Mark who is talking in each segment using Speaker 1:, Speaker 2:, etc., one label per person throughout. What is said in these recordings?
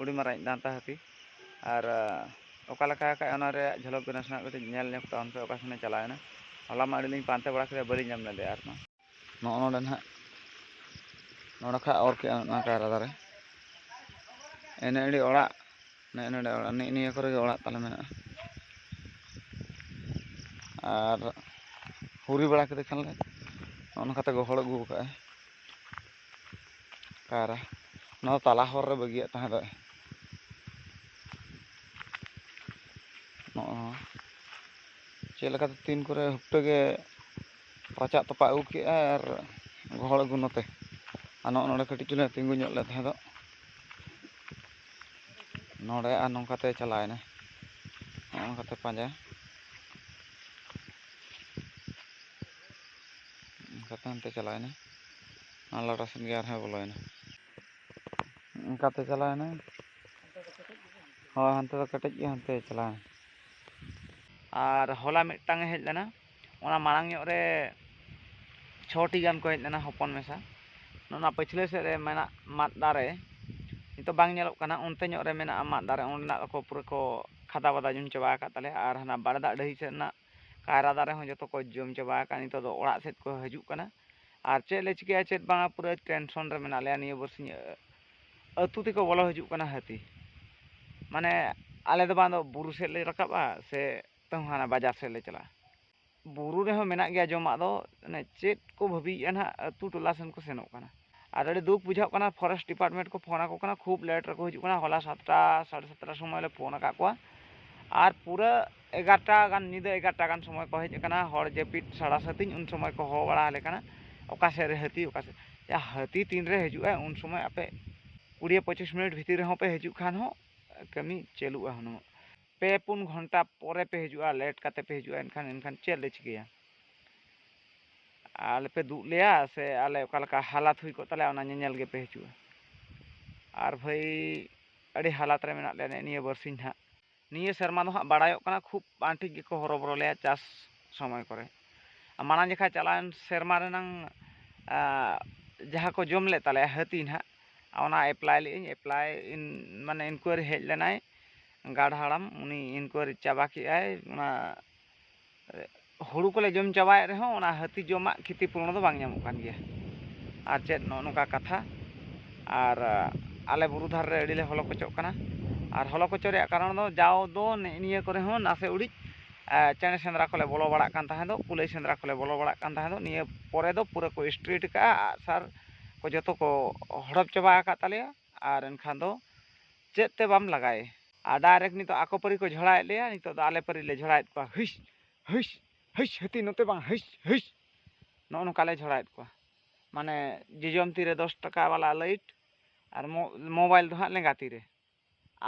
Speaker 1: ᱩᱰᱤ ᱢᱟᱨᱟᱝ ᱫᱟᱱᱛᱟ ᱦᱟᱹᱛᱤ ᱟᱨ ᱚᱠᱟ ᱞᱮᱠᱟ ᱟᱠᱟᱫ ᱚᱱᱟ ᱨᱮᱭᱟᱜ ᱡᱷᱚᱞᱚᱠ ᱜᱮ ᱱᱟᱥᱮᱱᱟᱜ ᱠᱟᱹᱴᱤᱡ ᱧᱮᱞ ᱧᱚᱜ ᱛᱟᱵᱚᱱ ᱯᱮ ᱚᱠᱟ ᱥᱮᱱᱮ ᱪᱟᱞᱟᱣᱮᱱᱟ ᱦᱚᱞᱟ ᱢᱟ ᱟᱹᱰᱤ ᱞᱤᱧ ᱯᱟᱱᱛᱮ ᱵᱟᱲᱟ ᱠᱮᱫᱟ ᱵᱟᱹᱞᱤᱧ ᱧᱟᱢ ᱞᱮᱫᱮᱭᱟ ᱟᱨ ᱢᱟ ᱱᱚᱜᱼᱚ ᱱᱚᱰᱮ ᱱᱟᱦᱟᱜ ᱱᱚᱰᱮ ᱠᱷᱚᱱ ᱚᱨ ᱠᱮᱫᱼᱟ ᱚᱱᱟ ᱠᱟᱭᱨᱟ ᱫᱟᱨᱮ ᱮᱱᱮ ᱟᱹᱰᱤ ᱚᱲᱟᱜ ᱱᱮᱜᱼᱮ ᱱᱚᱰᱮ ᱚᱲᱟᱜ ᱱᱤᱜ ᱱᱤᱭᱟᱹ ᱠᱚᱨᱮ ᱜᱮ ᱚᱲᱟᱜ ᱛᱟᱞᱮ ᱢᱮᱱᱟᱜᱼᱟ ᱟᱨ ᱦᱩᱨᱤ ᱵᱟᱲᱟ ᱠᱮᱫᱮ ᱠᱷᱟᱱ ᱞᱮ ᱱᱚᱜᱼᱚ ᱱᱚᱝᱠᱟᱛᱮ ᱜᱚᱦᱚᱲ ᱟᱹᱜᱩ ᱟᱠᱟᱫᱼᱟᱭ ᱠᱟᱭᱨᱟ ᱱᱚᱣᱟ ᱛᱟᱞᱟ ᱦᱚᱨ ᱨᱮ ᱵᱟᱹᱜᱤᱭᱟᱜ ᱛᱟᱦᱮᱸ ᱫᱚ ᱱᱚᱜᱼᱚ ᱪᱮᱫ ᱞᱮᱠᱟᱛᱮ ᱛᱤᱱ ᱠᱚᱨᱮ ᱦᱩᱯᱴᱟᱹ ᱜᱮ ᱨᱟᱪᱟᱜ ᱛᱚᱯᱟᱜ ᱟᱹᱜᱩ ᱠᱮᱫᱼᱟ ᱟᱨ ᱜᱚᱦᱚᱲ ᱟᱹᱜᱩ ᱱᱚᱛᱮ ᱟᱨ ᱱᱚᱜᱼᱚ ᱱᱚᱰᱮ ᱠᱟᱹᱴᱤᱡ ᱪᱩᱞᱩᱝ ᱛᱤᱸᱜᱩ ᱧᱚᱜ ᱞᱮ ᱛᱟᱦᱮᱸ ᱫᱚ ᱱᱚᱰᱮ ᱟᱨ ᱱᱚᱝᱠᱟᱛᱮ ᱪᱟᱞᱟᱣᱮᱱᱟ ᱱᱚᱜᱼᱚ ᱱᱚᱝᱠᱟᱛᱮ ᱯᱟᱸᱡᱟ ᱚᱱᱠᱟᱛᱮ ᱦᱟᱱᱛᱮ ᱪᱟᱞᱟᱣᱮᱱᱟ ᱟᱨ ᱞᱟᱴᱟ ᱥᱮᱫ ᱜᱮ ᱟᱨᱦᱚᱸᱭ ᱵᱚᱞᱚᱭᱮᱱᱟ ᱚᱱᱠᱟᱛᱮ ᱪᱟᱞᱟᱣᱮᱱᱟᱭ ᱦᱳᱭ ᱦᱟᱱᱛᱮ ᱫᱚ ᱠᱮᱴᱮᱡ ᱜᱮ ᱦᱟᱱᱛᱮ ᱪᱟᱞᱟᱣᱮᱱᱟ ᱟᱨ ᱦᱚᱞᱟ ᱢᱤᱫᱴᱟᱝ ᱦᱮᱡ ᱞᱮᱱᱟ ᱚᱱᱟ ᱢᱟᱲᱟᱝ ᱧᱚᱜ ᱨᱮ ᱪᱷᱚᱴᱤ ᱜᱟᱱ ᱠᱚ ᱦᱮᱡ ᱞᱮᱱᱟ ᱦᱚᱯᱚᱱ ᱢᱮᱥᱟ ᱚᱱᱟ ᱯᱟᱹᱪᱷᱞᱟᱹ ᱥᱮᱫ ᱨᱮ ᱢᱮᱱᱟᱜ ᱢᱟᱫ ᱫᱟᱨᱮ ᱱᱤᱛᱚᱜ ᱵᱟᱝ ᱧᱮᱞᱚᱜ ᱠᱟᱱᱟ ᱚᱱᱛᱮ ᱧᱚᱜ ᱨᱮ ᱢᱮᱱᱟᱜᱼᱟ ᱢᱟᱫ ᱫᱟᱨᱮ ᱚᱸᱰᱮᱱᱟᱜ ᱫᱚᱠᱚ ᱯᱩᱨᱟᱹ ᱠᱚ ᱠᱷᱟᱫᱟ ᱵᱟᱫᱟ ᱡᱚᱢ ᱪᱟᱵᱟ ᱟᱠᱟᱫ ᱛᱟᱞᱮᱭᱟ ᱟᱨ ᱦᱟᱱᱟ ᱵᱟᱲᱮ ᱫᱟᱜ ᱰᱟᱹᱦᱤ ᱥᱮᱫ ᱨᱮᱱᱟᱜ ᱠᱟᱭᱨᱟ ᱫᱟᱨᱮ ᱦᱚᱸ ᱡᱚᱛᱚ ᱠᱚ ᱡᱚᱢ ᱪᱟᱵᱟ ᱟᱠᱟᱫ ᱱᱤᱛᱚᱜ ᱫᱚ ᱚᱲᱟᱜ ᱥᱮᱫ ᱠᱚ ᱦᱤᱡᱩᱜ ᱠᱟᱱᱟ ᱟᱨ ᱪᱮᱫ ᱞᱮ ᱪᱤᱠᱟᱹᱭᱟ ᱪᱮᱫ ᱵᱟᱝᱟ ᱯᱩᱨᱟᱹ ᱴᱮᱱᱥᱚᱱ ᱨᱮ ᱢᱮᱱᱟᱜ ᱞᱮᱭᱟ ᱱᱤᱭᱟᱹ ᱵᱟᱨᱥᱤᱧ ᱟᱹᱛᱩ ᱛᱮᱠᱚ ᱵᱚᱞᱚ ᱦᱤᱡᱩᱜ ᱠᱟᱱᱟ ᱦᱟᱹᱛᱤ ᱢᱟᱱᱮ ᱟᱞᱮ ᱫᱚ ᱵᱟᱝ ᱫᱚ ᱵᱩᱨᱩ ᱥᱮᱫ ᱞᱮ ᱨᱟᱠᱟᱵᱼᱟ ᱥᱮ ᱛᱟᱹᱣ ᱦᱟᱱᱟ ᱵᱟᱡᱟᱨ ᱥᱮᱫ ᱞᱮ ᱪᱟᱞᱟᱜᱼᱟ ᱵᱩᱨᱩ ᱨᱮᱦᱚᱸ ᱢᱮᱱᱟᱜ ᱜᱮᱭᱟ ᱡᱚᱢᱟᱜ ᱫᱚ ᱢᱟᱱᱮ ᱪᱮᱫ ᱠᱚ ᱵᱷᱟᱹᱵᱤᱭᱮᱫᱼᱟ ᱱᱟᱦᱟᱜ ᱟᱹᱛᱩ ᱴᱚᱞᱟ ᱥᱮᱱ ᱠᱚ ᱥᱮᱱᱚᱜ ᱠᱟᱱᱟ ᱟᱨ ᱟᱹᱰᱤ ᱫᱩᱠ ᱵᱩᱡᱷᱟᱹᱜ ᱠᱟᱱᱟ ᱯᱷᱚᱨᱮᱥᱴ ᱰᱤᱯᱟᱨᱴᱢᱮᱱᱴ ᱠᱚ ᱯᱷᱳᱱ ᱟᱠᱚ ᱠᱟᱱᱟ ᱠᱷᱩᱵ ᱞᱮᱴ ᱨᱮᱠᱚ ᱦᱤᱡᱩᱜ ᱠᱟᱱᱟ ᱦᱚᱞᱟ ᱥᱟᱛᱴᱟ ᱥᱟᱲᱮ ᱥᱟᱛᱴᱟ ᱥᱚᱢᱚᱭ ᱞᱮ ᱯᱷᱳᱱ ᱟᱠᱟᱫ ᱠᱚᱣᱟ ᱟᱨ ᱯᱩᱨᱟᱹ ᱮᱜᱟᱨᱚᱴᱟ ᱜᱟᱱ ᱧᱤᱫᱟᱹ ᱮᱜᱟᱨᱚᱴᱟ ᱜᱟᱱ ᱥᱚᱢᱚᱭ ᱠᱚ ᱦᱮᱡ ᱟᱠᱟᱱᱟ ᱦᱚᱲ ᱡᱟᱹᱯᱤᱫ ᱥᱟᱲᱟ ᱥᱟᱹᱛᱤᱧ ᱩᱱ ᱥᱚᱢᱚᱭ ᱠᱚ ᱦᱚᱦᱚ ᱵᱟᱲᱟ ᱟᱞᱮ ᱠᱟᱱᱟ ᱚᱠᱟ ᱥᱮᱫ ᱨᱮ ᱦᱟᱹᱛᱤ ᱚᱠᱟ ᱥᱮᱫ ᱦᱟᱹᱛᱤ ᱛᱤᱱ ᱨᱮ ᱦᱤᱡᱩᱜ ᱟᱭ ᱩᱱ ᱥᱚᱢᱚᱭ ᱟᱯᱮ ᱠᱩᱲᱤ ᱯᱚᱸᱪᱤᱥ ᱢᱤᱱᱤᱴ ᱵᱷᱤᱛᱤᱨ ᱨᱮᱦᱚᱸ ᱯᱮ ᱦᱤᱡᱩᱜ ᱠᱷᱟᱱ ᱦᱚᱸ ᱠᱟᱹᱢᱤ ᱪᱟᱹᱞᱩᱜᱼᱟ ᱦᱩᱱᱟᱹᱝ ᱯᱮ ᱯᱩᱱ ᱜᱷᱚᱱᱴᱟ ᱯᱚᱨᱮ ᱯᱮ ᱦᱤᱡᱩᱜᱼᱟ ᱞᱮᱴ ᱠᱟᱛᱮ ᱯᱮ ᱦᱤᱡᱩᱜᱼᱟ ᱮᱱᱠᱷᱟᱱ ᱮᱱᱠᱷᱟᱱ ᱪᱮᱫ ᱞᱮ ᱪᱤᱠᱟᱹᱭᱟ ᱟᱞᱮ ᱯᱮ ᱫᱩᱜ ᱞᱮᱭᱟ ᱥᱮ ᱟᱞᱮ ᱚᱠᱟ ᱞᱮᱠᱟ ᱦᱟᱞᱟᱛ ᱦᱩᱭ ᱠᱚᱜ ᱛᱟᱞᱮᱭᱟ ᱚᱱᱟ ᱧᱮᱧᱮᱞ ᱜᱮᱯᱮ ᱦᱤᱡᱩᱜᱼᱟ ᱟᱨ ᱵᱷᱟᱹᱭ ᱟᱹᱰᱤ ᱦᱟᱞᱟᱛ ᱨᱮ ᱢᱮᱱᱟᱜ ᱞᱮᱭᱟ ᱱᱮᱜᱼᱮ ᱱᱤᱭᱟᱹ ᱵᱟᱨᱥᱤᱧ ᱦᱟᱸᱜ ᱱᱤᱭᱟᱹ ᱥᱮᱨᱢᱟ ᱫᱚ ᱦᱟᱸᱜ ᱵᱟᱲᱟᱭᱚᱜ ᱠᱟᱱᱟ ᱠᱷᱩᱵ ᱵᱟᱝ ᱴᱷᱤᱠ ᱜᱮᱠᱚ ᱦᱚᱨᱚᱵᱚᱨᱚ ᱞᱮᱭᱟ ᱪᱟᱥ ᱥᱚᱢᱚᱭ ᱠᱚᱨᱮ ᱢᱟᱲᱟᱝ ᱡᱚᱠᱷᱟ ᱪᱟᱞᱟᱣᱮᱱ ᱥᱮᱨᱢᱟ ᱨᱮᱱᱟᱝ ᱡᱟᱦᱟᱸ ᱠᱚ ᱡᱚᱢ ᱞᱮᱫ ᱛᱟᱞᱮᱭᱟ ᱦᱟᱹᱛᱤ ᱦᱟᱸᱜ ᱚᱱᱟ ᱮᱯᱞᱟᱭ ᱞᱮᱫᱟᱹᱧ ᱮᱯᱞᱟᱭ ᱢᱟᱱᱮ ᱤᱱᱠᱩᱭᱟᱨᱤ ᱦᱮᱡ ᱞᱮᱱᱟᱭ ᱜᱟᱲ ᱦᱟᱲᱟᱢ ᱩᱱᱤ ᱤᱱᱠᱩᱭᱟᱨᱤ ᱪᱟᱵᱟ ᱠᱮᱜᱼᱟᱭ ᱚᱱᱟ ᱦᱩᱲᱩ ᱠᱚᱞᱮ ᱡᱚᱢ ᱪᱟᱵᱟᱭᱮᱫ ᱨᱮᱦᱚᱸ ᱚᱱᱟ ᱦᱟᱹᱛᱤ ᱡᱚᱢᱟᱜ ᱠᱷᱤᱛᱤ ᱯᱩᱨᱚᱱ ᱫᱚ ᱵᱟᱝ ᱧᱟᱢᱚᱜ ᱠᱟᱱ ᱜᱮᱭᱟ ᱟᱨ ᱪᱮᱫ ᱱᱚᱜᱼᱚ ᱱᱚᱝᱠᱟ ᱠᱟᱛᱷᱟ ᱟᱨ ᱟᱞᱮ ᱵᱩᱨᱩ ᱫᱷᱟᱨᱮ ᱨᱮ ᱟᱹᱰᱤᱞᱮ ᱦᱚᱞᱚ ᱠᱚᱪᱚᱜ ᱠᱟᱱᱟ ᱟᱨ ᱦᱚᱞᱚ ᱠᱚᱪᱚ ᱨᱮᱭᱟᱜ ᱠᱟᱨᱚᱱ ᱫᱚ ᱡᱟᱣ ᱫᱚ ᱱᱮᱜᱼᱮ ᱱᱤᱭᱟᱹ ᱠᱚᱨᱮ ᱦᱚᱸ ᱱᱟᱥᱮ ᱩᱲᱤᱡ ᱪᱮᱬᱮ ᱥᱮᱸᱫᱽᱨᱟ ᱠᱚᱞᱮ ᱵᱚᱞᱚ ᱵᱟᱲᱟᱜ ᱠᱟᱱ ᱛᱟᱦᱮᱸ ᱫᱚ ᱠᱩᱞᱟᱹᱭ ᱥᱮᱸᱫᱽᱨᱟ ᱠᱚᱞᱮ ᱵᱚᱞᱚ ᱵᱟᱲᱟᱜ ᱠᱟᱱ ᱛᱟᱦᱮᱸ ᱫᱚ ᱱᱤᱭᱟᱹ ᱯᱚᱨᱮ ᱫᱚ ᱯᱩᱨᱟᱹ ᱠᱚ ᱥᱴᱨᱤᱴ ᱠᱟᱜᱼᱟ ᱟᱜᱼᱥᱟᱨ ᱠᱚ ᱡᱚᱛᱚ ᱠᱚ ᱦᱚᱲᱚᱯ ᱪᱟᱵᱟ ᱟᱠᱟᱫ ᱛᱟᱞᱮᱭᱟ ᱟᱨ ᱮᱱᱠᱷᱟᱱ ᱫᱚ ᱪᱮᱫ ᱛᱮ ᱵᱟᱢ ᱞᱟᱜᱟᱭ ᱟᱨ ᱰᱟᱭᱨᱮᱠᱴ ᱱᱤᱛᱚᱜ ᱟᱠᱚ ᱯᱟᱹᱨᱤ ᱠᱚ ᱡᱷᱚᱲᱟᱭᱮᱫ ᱞᱮᱭᱟ ᱱᱤᱛᱚᱜ ᱫᱚ ᱟᱞᱮ ᱯᱟᱹᱨᱤ ᱞᱮ ᱡᱷᱚᱲᱟᱭᱮᱫ ᱠᱚᱣᱟ ᱦᱩᱭᱥ ᱦᱩᱭᱥ ᱦᱩᱭᱥ ᱦᱟᱹᱛᱤ ᱱᱚᱛᱮ ᱵᱟᱝ ᱦᱩᱭᱥ ᱦᱩᱭᱥ ᱱᱚᱜᱼᱚ ᱱᱚᱝᱠᱟ ᱞᱮ ᱡᱷᱚᱲᱟᱭᱮᱫ ᱠᱚᱣᱟ ᱢᱟᱱᱮ ᱡᱚᱡᱚᱢ ᱛᱤᱨᱮ ᱫᱚᱥ ᱴᱟᱠᱟ ᱵᱟᱞᱟ ᱞᱟᱹᱭᱤᱴ ᱟᱨ ᱢᱳᱵᱟᱭᱤᱞ ᱫᱚ ᱦᱟᱸᱜ ᱞᱮᱸᱜᱟ ᱛᱤᱨᱮ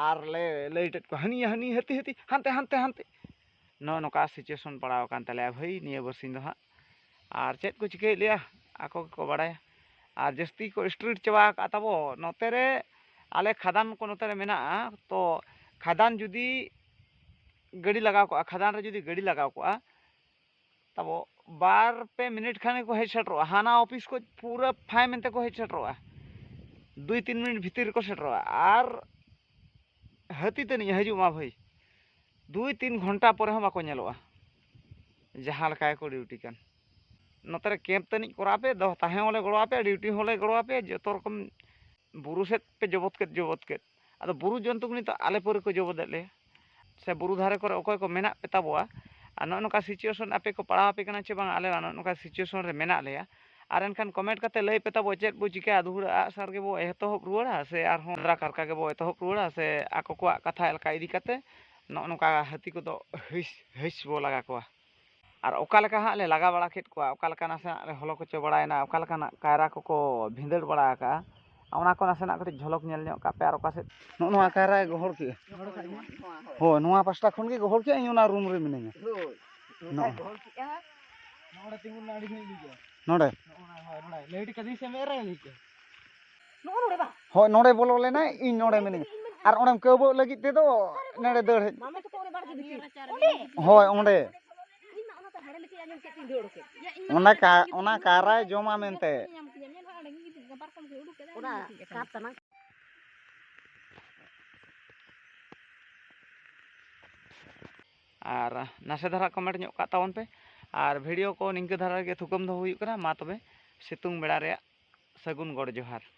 Speaker 1: ᱟᱨ ᱞᱮ ᱞᱟᱹᱭᱤᱴᱮᱫ ᱠᱚᱣᱟ ᱦᱟᱹᱱᱤᱭᱟ ᱦᱟᱹᱱᱤ ᱦᱟᱹᱛᱤ ᱦᱟᱹᱛᱤ ᱦᱟᱱᱛᱮ ᱦᱟᱱᱛᱮ ᱦᱟᱱᱛᱮ ᱱᱚᱜᱼᱚ ᱱᱚᱝᱠᱟ ᱥᱤᱪᱩᱭᱮᱥᱚᱱ ᱯᱟᱲᱟᱣ ᱟᱠᱟᱱ ᱛᱟᱞᱮᱭᱟ ᱵᱷᱟᱹᱭ ᱱᱤᱭᱟᱹ ᱵᱟᱨᱥᱤᱧ ᱫᱚ ᱦᱟᱸᱜ ᱟᱨ ᱪᱮᱫ ᱠᱚ ᱪᱤᱠᱟᱹᱭᱮᱫ ᱞᱮᱭᱟ ᱟᱠᱚ ᱜᱮᱠᱚ ᱵᱟᱲᱟᱭᱟ ᱟᱨ ᱡᱟᱹᱥᱛᱤ ᱠᱚ ᱥᱴᱨᱤᱴ ᱪᱟᱵᱟ ᱟᱠᱟᱫ ᱛᱟᱵᱚ ᱱᱚᱛᱮ ᱨᱮ ᱟᱞᱮ ᱠᱷᱟᱫᱟᱱ ᱠᱚ ᱱᱚᱛᱮ ᱨᱮ ᱢᱮᱱᱟᱜᱼᱟ ᱛᱚ ᱠᱷᱟᱫᱟᱱ ᱡᱩᱫᱤ ᱜᱟᱹᱰᱤ ᱞᱟᱜᱟᱣ ᱠᱚᱜᱼᱟ ᱠᱷᱟᱫᱟᱱ ᱨᱮ ᱡᱩᱫᱤ ᱜᱟᱹᱰᱤ ᱞᱟᱜᱟᱣ ᱠᱚᱜᱼᱟ ᱛᱟᱵᱚ ᱵᱟᱨ ᱯᱮ ᱢᱤᱱᱤᱴ ᱠᱷᱟᱱ ᱜᱮᱠᱚ ᱦᱮᱡ ᱥᱮᱴᱮᱨᱚᱜᱼᱟ ᱦᱟᱱᱟ ᱚᱯᱷᱤᱥ ᱠᱷᱚᱱ ᱯᱩᱨᱟᱹ ᱯᱷᱟᱭ ᱢᱮᱱᱛᱮ ᱠᱚ ᱦᱮᱡ ᱥᱮᱴᱮᱨᱚᱜᱼᱟ ᱫᱩᱭ ᱛᱤᱱ ᱢᱤᱱᱤᱴ ᱵᱷᱤᱛᱤᱨ ᱨᱮᱠᱚ ᱥᱮᱴᱮᱨᱚᱜᱼᱟ ᱟᱨ ᱦᱟᱹᱛᱤ ᱛᱟᱹᱱᱤᱡ ᱮ ᱦᱤᱡᱩᱜ ᱢᱟ ᱵᱷᱟᱹᱭ ᱫᱩᱭ ᱛᱤᱱ ᱜᱷᱚᱱᱴᱟ ᱯᱚᱨᱮ ᱦᱚᱸ ᱵᱟᱠᱚ ᱧᱮᱞᱚᱜᱼᱟ ᱡᱟᱦᱟᱸ ᱞᱮᱠᱟ ᱜᱮᱠᱚ ᱰᱤᱭᱩᱴᱤ ᱠᱟᱱ ᱱᱚᱛᱮ ᱨᱮ ᱠᱮᱢᱯ ᱛᱟᱹᱱᱤᱡ ᱠᱚᱨᱟᱣ ᱯᱮ ᱫᱚᱦᱚ ᱛᱟᱦᱮᱸ ᱦᱚᱸᱞᱮ ᱜᱚᱲᱚ ᱟᱯᱮᱭᱟ ᱰᱤᱭᱩᱴᱤ ᱦᱚᱸᱞᱮ ᱜᱚᱲᱚ ᱟᱯᱮᱭᱟ ᱡᱚᱛᱚ ᱨᱚᱠᱚᱢ ᱵᱩᱨᱩ ᱥᱮᱫ ᱯᱮ ᱡᱚᱵᱚᱫ ᱠᱮᱫ ᱡᱚᱵᱚᱫ ᱠᱮᱫ ᱟᱫᱚ ᱵᱩᱨᱩ ᱡᱚᱱᱛᱩ ᱠᱚ ᱱᱤᱛᱚᱜ ᱟᱞᱮ ᱯᱟᱹᱨᱤ ᱠᱚ ᱡᱚᱵᱚᱫᱮᱫ ᱞᱮᱭᱟ ᱥᱮ ᱵᱩᱨᱩ ᱫᱷᱟᱨᱮ ᱠᱚᱨᱮ ᱚᱠᱚᱭ ᱠᱚ ᱢᱮᱱᱟᱜ ᱯᱮ ᱛᱟᱵᱚᱣᱟ ᱟᱨ ᱱᱚᱜᱼᱚ ᱱᱚᱝᱠᱟ ᱥᱤᱪᱩᱭᱮᱥᱚᱱ ᱟᱯᱮ ᱠᱚ ᱯᱟᱲᱟᱣ ᱟᱯᱮ ᱠᱟᱱᱟ ᱪᱮ ᱵᱟᱝ ᱟᱞᱮ ᱱᱚᱜᱼᱚ ᱱᱚᱝᱠᱟ ᱥᱤᱪᱩᱭᱮᱥᱚᱱ ᱨᱮ ᱢᱮᱱᱟᱜ ᱞᱮᱭᱟ ᱟᱨ ᱮᱱᱠᱷᱟᱱ ᱠᱚᱢᱮᱱᱴ ᱠᱟᱛᱮ ᱞᱟᱹᱭ ᱯᱮ ᱛᱟᱵᱚ ᱪᱮᱫ ᱵᱚ ᱪᱤᱠᱟᱹᱭᱟ ᱫᱩᱦᱩᱲᱟᱹ ᱟᱜ ᱥᱟᱨ ᱜᱮᱵᱚ ᱮᱛᱚᱦᱚᱵ ᱨᱩᱣᱟᱹᱲᱟ ᱥᱮ ᱟᱨᱦᱚᱸ ᱫᱟᱨᱟ ᱠᱟᱨᱠᱟ ᱜᱮᱵᱚ ᱮᱛᱚᱦᱚᱵ ᱨᱩᱣᱟᱹᱲᱟ ᱥᱮ ᱟᱠᱚ ᱠᱚᱣᱟᱜ ᱠᱟᱛᱷᱟ ᱮᱞᱠᱷᱟ ᱤᱫᱤ ᱠᱟᱛᱮ ᱱᱚᱜᱼᱚ ᱱᱚᱝᱠᱟ ᱦᱟᱹᱛᱤ ᱠᱚᱫᱚ ᱦᱤᱥ ᱦᱤᱥ ᱵᱚ ᱞᱟᱜᱟ ᱠᱚᱣᱟ ᱟᱨ ᱚᱠᱟ ᱞᱮᱠᱟ ᱦᱟᱸᱜ ᱞᱮ ᱞᱟᱜᱟ ᱵᱟᱲᱟ ᱠᱮᱫ ᱠᱚᱣᱟ ᱚᱠᱟ ᱞᱮᱠᱟ ᱱᱟᱥᱮᱱᱟᱜ ᱞᱮ ᱦᱚᱞᱚ ᱠᱚᱪᱚ ᱵᱟᱲᱟᱭᱮᱱᱟ ᱚᱠᱟ ᱞᱮᱠᱟᱱᱟᱜ ᱠᱟᱭᱨᱟ ᱠᱚᱠᱚ ᱵᱷᱤᱸᱫᱟᱹᱲ ᱵᱟᱲᱟ ᱟᱠᱟᱫᱼᱟ ᱚᱱᱟ ᱠᱚ ᱱᱟᱥᱮᱱᱟᱜ ᱠᱟᱹᱴᱤᱡ ᱡᱷᱚᱞᱚᱠ ᱧᱮᱞ ᱧᱚᱜ ᱠᱟᱜ ᱯᱮ ᱟᱨ ᱚᱠᱟ ᱥᱮᱫ ᱱᱚᱜᱼᱚ ᱱᱚᱣᱟ ᱠᱟᱭᱨᱟᱭ ᱜᱚᱦᱚᱲ ᱠᱮᱫᱼᱟ ᱦᱳᱭ ᱱᱚᱣᱟ ᱯᱟᱥᱴᱟ ᱠᱷᱚᱱ ᱜᱮ ᱜᱚᱦᱚᱲ ᱠᱮᱫᱼᱟ ᱤᱧ ᱚᱱᱟ ᱨᱩᱢ ᱨᱮ ᱢᱤᱱᱟᱹᱧᱟ ᱱᱚᱰᱮ ᱞᱟᱹᱭ ᱠᱟᱫᱤᱧ ᱥᱮ ᱢᱮᱫ ᱨᱮ ᱞᱟᱹᱭ ᱠᱮᱫᱼᱟ ᱦᱳᱭ ᱱᱚᱰᱮ ᱵᱚᱞᱚ ᱞᱮᱱᱟᱭ ᱤᱧ ᱱᱚᱰᱮ ᱢᱤᱱᱟᱹᱧᱟ ᱟᱨ ᱚᱸᱰᱮᱢ ᱠᱟᱹᱣᱵᱟᱹᱜ ᱞᱟᱹᱜᱤᱫ ᱛᱮᱫᱚ ᱱᱚᱰᱮ ᱫᱟᱹᱲ ᱦᱮᱡ ᱦᱳᱭ ᱚᱸᱰᱮ ᱚᱱᱟ ᱠᱟ ᱚᱱᱟ ᱠᱟᱭᱨᱟᱭ ᱡᱚᱢᱟ ᱢᱮᱱᱛᱮ ᱟᱨ ᱱᱟᱥᱮ ᱫᱷᱟᱨᱟ ᱠᱚᱢᱮᱱᱴ ᱧᱚᱜ ᱠᱟᱜ ᱛᱟᱵᱚᱱ ᱯᱮ ᱟᱨ ᱵᱷᱤᱰᱤᱭᱳ ᱠᱚ ᱱᱤᱝᱠᱟᱹ ᱫᱷᱟᱨᱟ ᱜᱮ ᱛᱷᱩᱠᱟᱹᱢ ᱫᱚ ᱦᱩᱭᱩᱜ ᱠᱟᱱᱟ ᱢᱟ ᱛᱚᱵᱮ ᱥᱤᱛᱩᱝ ᱵᱮᱲᱟ ᱨᱮᱭᱟᱜ ᱥᱟᱹᱜᱩᱱ ᱜᱚᱰ ᱡᱚᱦᱟᱨ